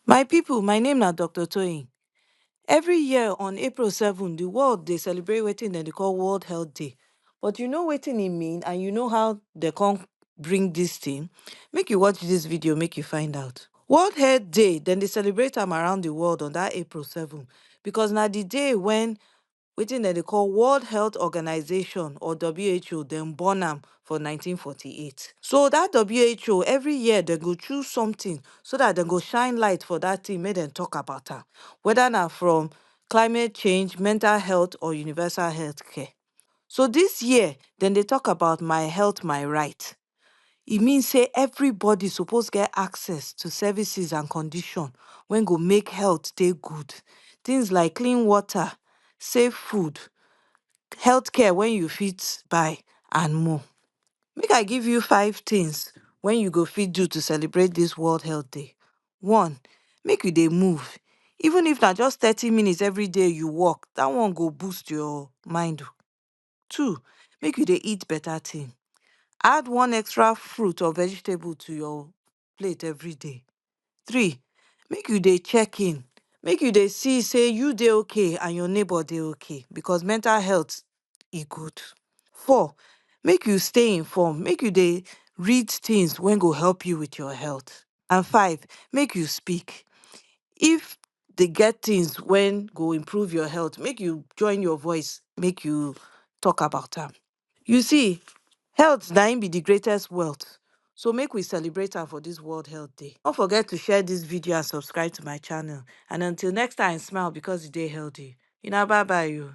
My pipu, my name na Doctor Toyin. Every year on April seven, di world dey celebrate wetin dem dey call World Health Day. But you know wetin e mean and you know how dem come bring dis tin? Make you watch dis video make you find out. World Health Day, dem dey celebrate am around di world on dat April seven because na di day wen wetin dem dey call World Health Organization or who dem born am for nineteen forty eight so that who every year dem go choose something so that dem go shine light for that thing make dem talk about am whether na from climate change, mental health or universal health care so this year dem dey talk about my health my right e mean say everybody suppose get access to services and condition when go make health dey good. Things like clean water, safe food, health care when you fit buy and more. Make I give you five things when you go fit do to celebrate this World Health Day. One, make you dey move. Even if na just thirty minutes every day you walk, that one go boost your mind. Two, make you dey eat better thing. Add one extra fruit or vegetable to your plate every day. Three, make you dey check in, make you dey see say you dey okay and your neighbor dey okay because mental health e good. Four, make you stay informed, make you dey read things wey go help you with your health. And five, make you speak. If dey get things when go improve your health make you join your voice make you talk about am you see health na im be the greatest wealth so make we celebrate am for this world health day forget to share this video and subscribe to my channel and until next time smile because you dey healthy una bye bye o